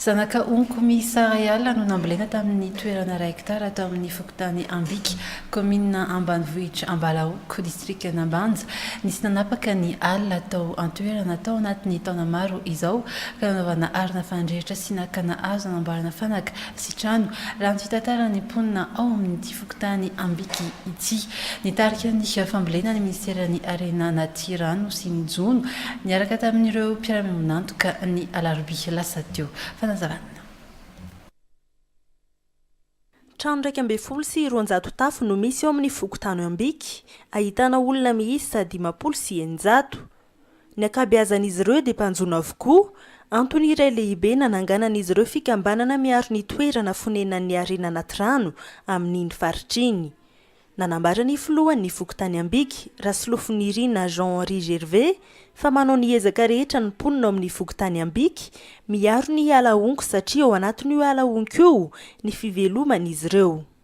Zanaka onko miisa iray alina no nambolena tamin'ny toerana iray hektara tao amin'ny fokontany Ambika, kaominina ambanivohitra Ambalahoko, distrikan'Ambanja. Nisy nanapaka ny alina tao an-toerana tao anatin'ny taona maro izao ka nanaovana arina fanindrehitra sy nakana hazo nanamboarana fanaka sy trano, raha ny fitantaran'ny mponina ao amin'ity. fokontany Ambiky ity. Nitarika ny fambolena ny minisiteran'ny Harena anaty rano sy ny jono, niaraka tamin'ireo mpiara-miombon'antoka, ny alarobia lasa teo. Fanazavana. Trano iraika ambin'ny folo sy roanjato tafo no misy ao amin'ny fokontany Ambiky, ahitana olona miisa dimampolo sy eninjato. Ny ankabeazan'izy ireo dia mpanjono avokoa. Antony iray lehibe nananganan'izy ireo fikambanana miaro ny toerana fonenan'ny harena anaty rano amin'iny faritra iny. Nanambara ny filohan'ny fokontany Ambiky, Rasolofonirina Jean Henri Gervais, fa manao ny ezaka rehetra ny mponina ao amin'ny fokontany Ambiky miaro ny ala honko satria ao anatin'io ala honko io ny fiveloman'izy ireo.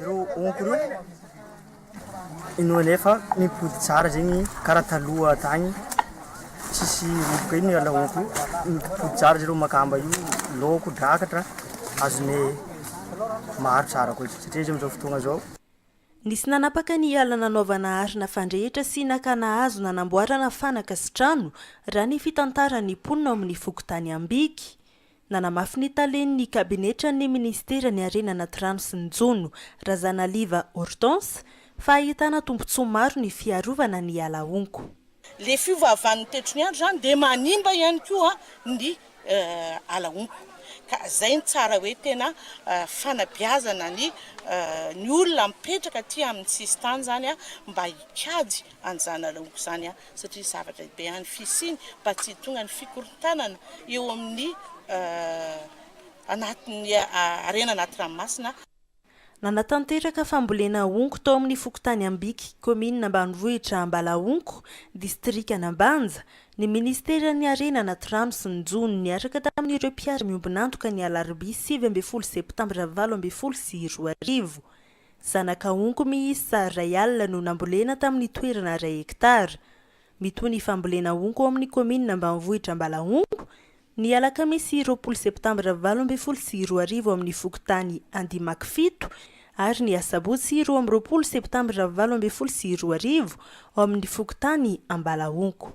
Ireo honko ireo inoanay fa mipody tsara zegny karaha taloha tagny tsisy roboka ino iala honko io mipody tsara zareo makamba io laoko drakatra azonay maro tsara koa izy satria izy amizao fotoagna zao Nisy nanapaka ny ala nanaovana ary nafandrehitra sy nakana hazo nanamboarana fanaka sy trano, raha ny fitantaran'ny mponina ao amin'ny fokontany Ambiky. Nanamafy ny talen'ny kabinetran'ny ministeran'ny Harena anaty rano sy ny jono, Razanaliva Hortense, fa ahitana tombontsoa maro ny fiarovana ny ala honko. Ilay fiovaovan'ny toetry ny andro izany dia manimba ihany koa ny ala honko, ka izay no tsara hoe tena fanabeazana ny ny olona mipetraka aty amin'ny sisin-tany izany mba hikajy an'izany ala honko izany. satria zavatra lehibe any fisiany mba tsy hitongan'ny fikorontanana eo amin'ny anatin'ny harena anaty ranomasina. Nanatanteraka fambolena honko tao amin'ny fokontany Ambiky, kaominina ambanivohitra Ambalahonko, distrikan'Ambanja, ny minisiteran'ny Harena anaty rano sy ny jono niaraka tamin'ireo mpiara-miombon'antoka ny alarobia sivy ambin'ny folo septambra valo ambin'ny folo sy roa arivo. Zanaka onko miisa iray alina no nambolena tamin'ny toerana iray hektara. Mitohy ny fambolena onko ao amin'ny kaominina ambanivohitra Ambalahongo, ny alakamisy roapolo septambra valo ambin'ny folo sy roa arivo amin'ny fokontany Andimakifito ary ny asabotsy roa amby roapolo septambra valo ambin'ny folo sy roa arivo ao amin'ny fokontany Ambalahongo.